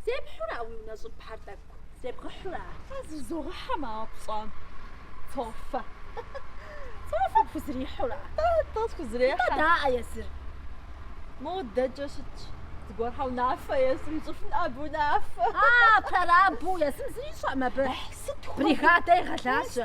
Зепхьура уи унэ щӏыбхьэр тӏэкӏу? Зебгъэхьура? Зезогъэхьэ моуэ пщӏам. Цофэ. Цофэ пхузрихьура? Тӏэ схузрехьэ. Тӏэ даӏэ езыр. Модэкӏэ щытщ. Зыгуэрхьэ унафэ езым ищӏыфын абы унафэ. А, прорабу езым зыри ищӏэӏым абы. Сыт хуэдэ? Бригадэ егъэлажьэ.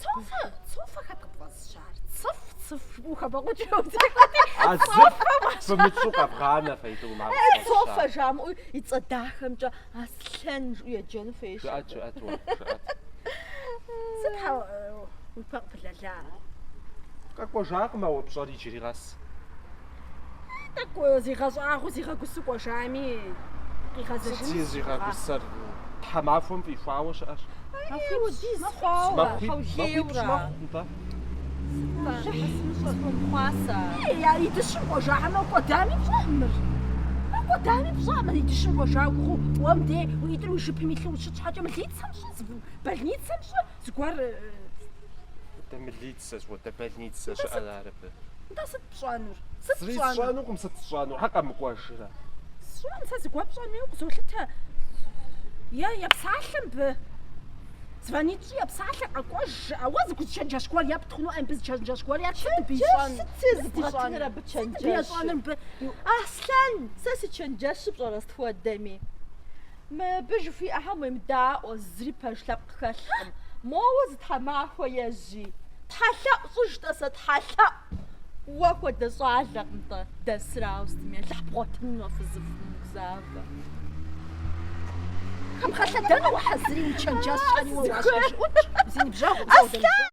Цофэ, цофэ хэт къыпфӏэзыщар? Цыф, цыф, ухабэкъуэкӏыу. А зыр фымытщӏу къэбгъанэ фейдугъ махуэ. Цофэ жамыӏу и цӏэ дахэмкӏэ Аслъэн жыӏэу еджэну фейщ. Жыӏэт, жыӏэт уэ, жыӏэт. Сыт хьэ уи пэ къыпылэлар? Къэкӏуэжакъым а уэ пщӏэр иджыри къэс. Тӏэкӏу зигъэщӏагъуэу зигъэгусу кӏуэжами Сыт къигъэзэжынщ зи- зигъэгъа. зигъэгусэр? Тхьэмахуэм фӏихуауэ щыӏэщ. Удис хъуауэ, Махуиб- махуибщ хьэулейуэрэ. мэхъу, нтӏэ. Щыхь сымыщӏэ сохъуасэ. Ей, а и дыщым кӏуэжа хьэмэ кӏуэдами пщӏэӏым мыр. А кӏуэдами пщӏэӏым мыр и дыщым кӏуэжа гугъу, уэ мыде уи ӏитӏыр уи жыпым илъу ущыт щхьэкӏэ мылицэм щӏы, зы больницэм щӏы, зыгуэр. Дэ мылиц. Сэзгъуэтэ больницэ щыӏэр ар абы. Нтӏэ, сыт пщӏэнур? Сыт Зыри пщӏэнур? сщӏэнукъым, сыт сщӏэнур? Хьэ къэмыкӏуэжрэ? Сщӏэн, сэ зыгуэ пщӏэну укъызолъытэ. Е, епсалъэ мыбы. Звонить щӏи, епсалъэ, къэкӏуэж, жыӏэ. Уэ зы гуэ зы чэнджэщ гуэр епт хъуну, ӏей, мыбы зы чэнджэщ гуэр епт, сыт мыбы ищӏэнур? Чэнджэщ сыт зыбгъэтыныр абы чэнджэщыр? Сыт мыбы ищӏэнур мыбы? Аслъэн, сэ си чэнджэщыр пщӏэрэ сыт хуэдэми? Мыбы жыхуиӏэхэм уемыдаӏуэ, зыри пэж лъэпкъ хэлъкъым. Моуэ зы тхьэмахуэ ежьи. Тхьэлъэӏу сщӏыжтэ сэ, тхьэлъэӏу! Уэ хуэдэ щӏалэкъым-тӏэ дэсыр ауэ сытми лъыхъу бгъуэтыну нофэ зы фымыгузавэ. Хьэм хэлъэдэну ухьэзыри, уи чэнджэщхэри уэ уащхьэжыӏукӏ, зи ныбжьэгъу къызэудэмыжьэу.